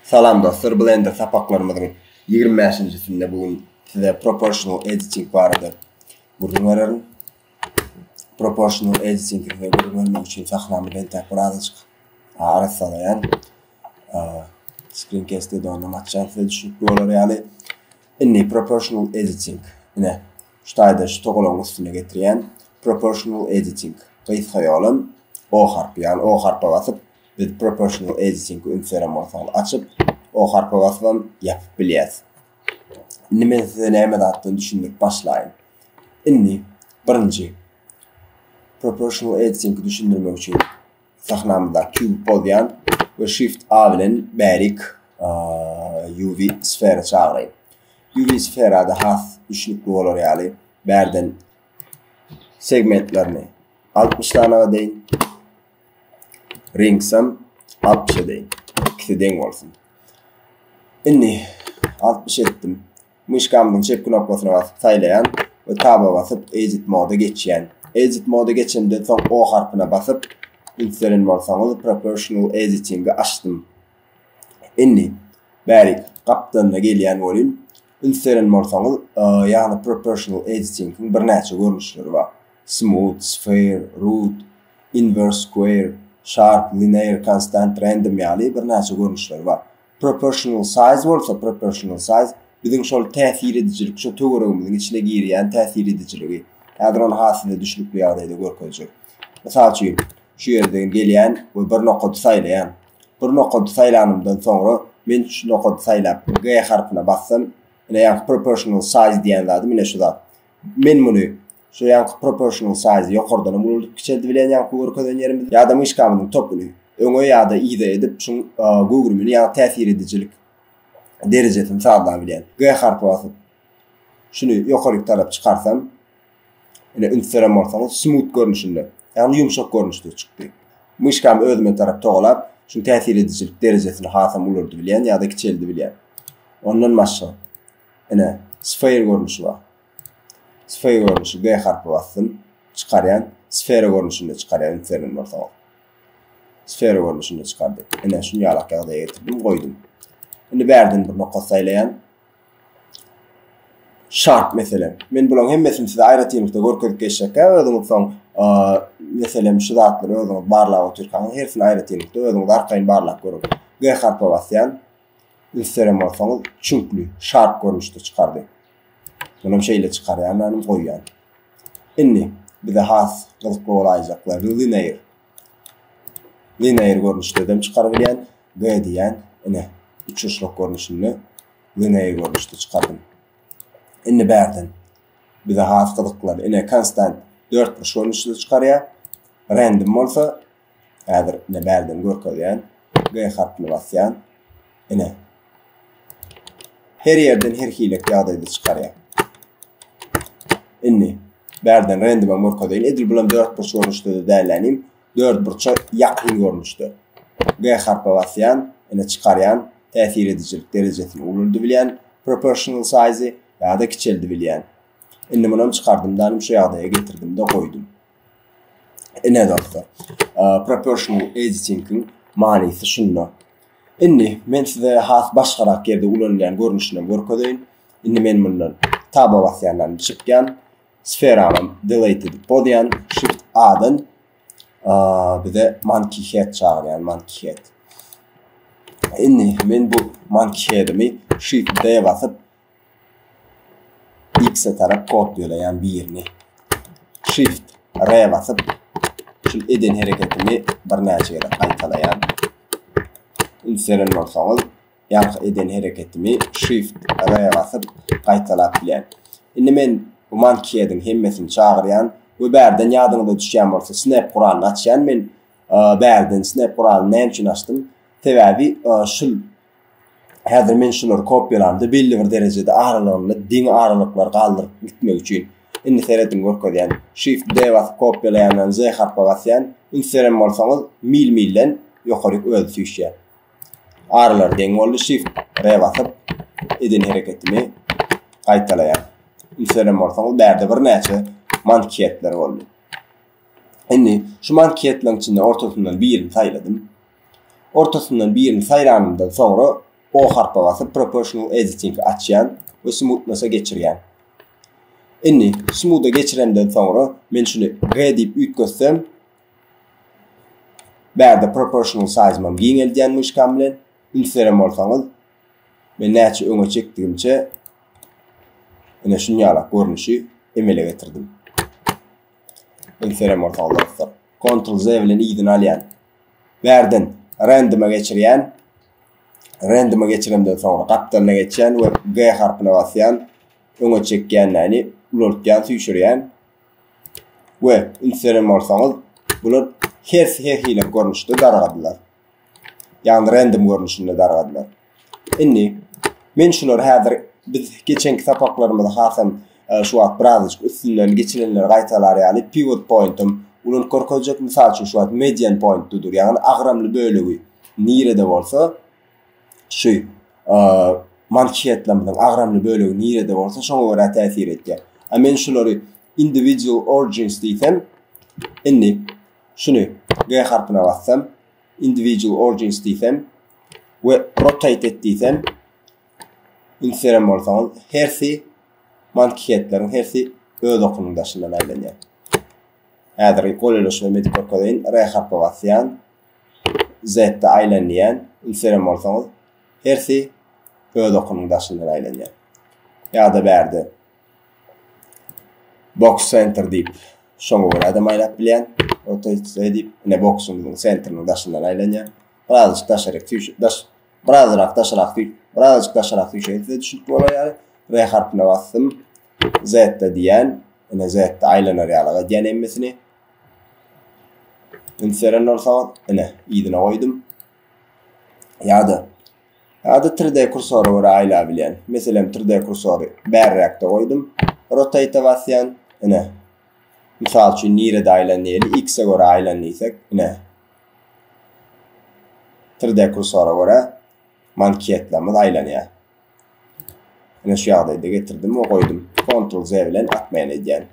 Salam dostlar Blender sapaklarymyzyň ýigrimi bäşinjisinde bu gün size proportional editing barada gürrüň bererin. Proportional editing size gürrüň bermek üçin sahnamy beltäp birazajyk arassalaýan. Screen cast-de ondan açýan size düşünikli bolar ýaly. Indi proportional editing. Ine. Şu taýda şu togalaň üstüne getirýän Proportional Editing gysga ýolam O harpy, ýagny O harpa basyp biz Proportional Editing-i üns beren bolsaňyz açyp, O harpa basybam ýapyp bilýäs. Indi men size näme zatdan düşündirip başlaýyn. Indi birinji Proportional Editing-i düşündirmek üçin sahnamyzdaky kubik bozýan we shift A bilen bärik UV sfera çagyraýyn. UV sferada has düşnükli bolar ýaly bärden segmentlerini 60 dana deýin. Ringsam 60 deýin. İkisi deň bolsun. Indi 60 etdim. Myşkamyzyň çep knopkasyna basyp saýlaýan we taba basyp Edit Mode geçýän. Edit Mode geçemden soň O harpyna basyp, üns beren bolsaňyz, Proportional Editing-i açdym. Indi, bärik, gapdalynda gelýän welin, üns beren bolsaňyz, ýagny Proportional Editing-iň birnäçe görnüşleri bar. Smooth, Sphere, Root, Inverse Square, Sharp, Linear, Constant, Random ýaly birnäçe görnüşleri bar. Proportional size bolsa, proportional size, biziň şol täsir edijilik, şo töweregimiziň içine girýän täsir edijiligi. Häzir ony has size düşnükli ýagdaýda görkezjek. Mysal üçin, şu ýerde gelýän we bir nokady saýlaýan. Bir nokady saýlanymdan soňra, men şu nokady saýlap, G harpyna bassam, ine, ýa proportional size diýen zady, ine, şu zat. Men muny Şu ýanky proportional size ýokardanam uludyp kiçeldibilen ýanky görkezen ýerimizi ýada myşkamyzyň topuny öňe ýada yza edip şuň göwrümini ýa täsir edijilik derejesini sazlabilýän. G harpy basyp şuny ýokaryk tarap çykarsam ine üns beren bolsaňyz smooth görnüşinde ýagny ýumşak görnüşde çykdy. Myşkamy özüme tarap togalap şuň täsir edijilik derejesini hasam ulardybilýän ýada kiçeldibilýän. Ondan başga ine sphere görnüşi bar. Sfera görnüşi G harpy basdym. Çykarýan. Sfera görnüşinde çykarýan ünsleriniň bolsa. Sfera görnüşinde çykardy. Ine şuny ýalak ýagdaýa getirdim, goýdum. Indi bärden bir nokat saýlaýan. Şart meselem. Men bularyň hemmesini size aýratynlykda görkezip geçjekkä, özüňiz soň meselem şu zatlary özüňiz barlap otyrkaňyz hersini aýratynlykda özüňiz arkaýyn barlap görüň. G harpy basýan. Ösderen bolsaňyz çüňkli, şarp görnüşde çykardy. Munam şeýle çykarýan anym goýýan. Indi bize has gyzykly bolaýjaklarny linear. Linear görnüşde dem çykarybilýän, G diýýän, ine, üçurşluk görnüşinde linear görnüşde çykardym. Indi bärden bize has gyzykly, ine, konstant dörtburç görnüşde çykarýar. Random bolsa Häzir ine bärden görkezýän. G harpyny basýan. Ine. Her ýerden her hilek ýagdaýda çykarýar. Indi bärden randoma görkezeýin. Edil bulam 4 burç görnüşde de dälänim. 4 burça ýakyn görnüşde. G harpy basýan, ine çykarýan. Täsir edijilik derejesini ululdy bilýän. Proportional size ýa-da kiçeldi bilýän. Indi munam çykardym danym şu ýagdaýa getirdim-de goýdum. Ine dostlar, proportional editingiň manysy şunda. Indi men size has başgarak ýerde ulanylýan görnüşini görkezeýin. Indi men mundan taba basýandan çykýan. Sferany delete edip bozýan. Shift A-dan bize monkey head çagyrýan, monkey head. Indi men bu monkey headimi shift D basyp X-e tarap kopýalaýan birini. Shift R basyp şul eden hereketimi birnäçe gezek gaýtalaýan. Ünseren bolsaňyz, ýaňky eden hereketimi Shift R basyp gaýtalap bilýän. Indi men bu mankiýediň hemmesini çagyrýan we bärden ýadyňyza düşýän bolsa snap guralyny açýan. Men bärden snap guralyny näme üçin açdym? Sebäbi şul Häzir men şulary kopýalamda belli bir derejede aralygynda deň aralyklary galdyryp gitmek üçin indi serediň görkezýän Shift D basyp kopýalaýandan Z harpa basýan üns beren bolsaňyz mil milden ýokaryk özi süýşýär. Aralar deň boldy Shift R basyp eden hereketimi gaýtalaýan. Üns beren bolsaňyz bärde birnäçe manketler boldy. Indi şu manketleriň içinde ortasyndan birini saýladym. Ortasyndan birini saýlanymdan soňra O harpa basyp Proportional Editing açýan we Smoothness-a geçirýän. Indi Smooth-a geçirenden soňra men şuny G diýip üýtgetsem Bärde Proportional Size-mam giňeldýän myşkam bilen. Üns beren bolsaňyz men näçe öňe çekdigimçe ine şunýalak görnüşi emele getirdim. Üns beren bolsaňyz dostlar. Ctrl-Z bilen yzyna alýan. Bärden randoma geçirýän. Randoma geçirenden soňra gapdalyna geçýän we G harpyna basýan. Öňe çekýänläni ulaltýan, süýşürýän. We ünslenýän bolsaňyz, bular her her hili görnüşde dargadylar. Ýagny random görnüşinde dargadylar. Indi men şulary häzir biz geçenki sapaklarymyzy hasam e, şu wagt birazajyk üstünden geçilenleri gaýtalar ýaly pivot pointum ulan görkezjek mysal üçin şu wagt median point dur ýagny agramly bölegi nirede bolsa şu e, manşetlamyzyň agramly bölegi nirede bolsa şoňa görä täsir etýär. A men şulary individual origins diýsem indi şuny G harpyna bassam individual origins diýsem we rotate et diýsem ünseren bolsaňyz hersi mankihetleriň hersi öz okunyň daşyndan aýlanýar. Häzir goleleşme medik görkezýän R harpy basýan Z-de aýlanýan ünseren bolsaňyz hersi öz okunyň daşyndan aýlanýar. Ýa-da bärde Boks Center diýip, şoňa görä-de maýlap bilýän. Oto şeý diýip, ine boksuň sentrini daşyndan aýlanýar. Birazajyk daşaryk süýşe, daş, birazrak daşarak süý, birazajyk daşarak süýşeýin size düşünip bolar ýaly. R harpyna basdym. Z-de diýýän. Ine Z-de aýlanar ýalyk edýän hemmesini. Üns beren bolsaňyz, ine yzyna goýdum. Ýa-da Ady 3D kursora görä aýlabilýän. Meselem 3D kursory bärräkde goýdum. Rotate-e basýan. Ine. Mysal üçin nirede aýlan diýeli. X-e görä aýlan diýsek. Ine. 3D kursora görä manketlamyz aýlanýar. Ine şu ýagdaýda getirdim we goýdum. Ctrl Z bilen atmaýan edýän.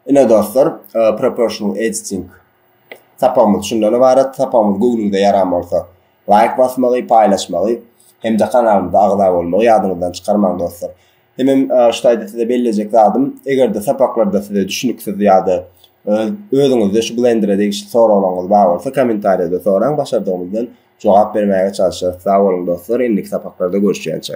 Ine dostlar, e, proportional editing Sapagymyz şundan ybarat, sapagymyz göwnüňize ýaran bolsa laýk basmagy, paýlaşmagy hem-de kanalymyza agza bolmagy ýadyňyzdan çykarmaň dostlar. Hemem şu taýda size bellejek zadym, eger-de sapaklarda size düşnüksiz ýa-da özüňizde şu blendere degişli soraglaryňyz bar bolsa kommentariýada soraň, başardygymyzdan jogap bermäge çalyşarys. Sag boluň dostlar, indiki sapaklarda görüşýänçä.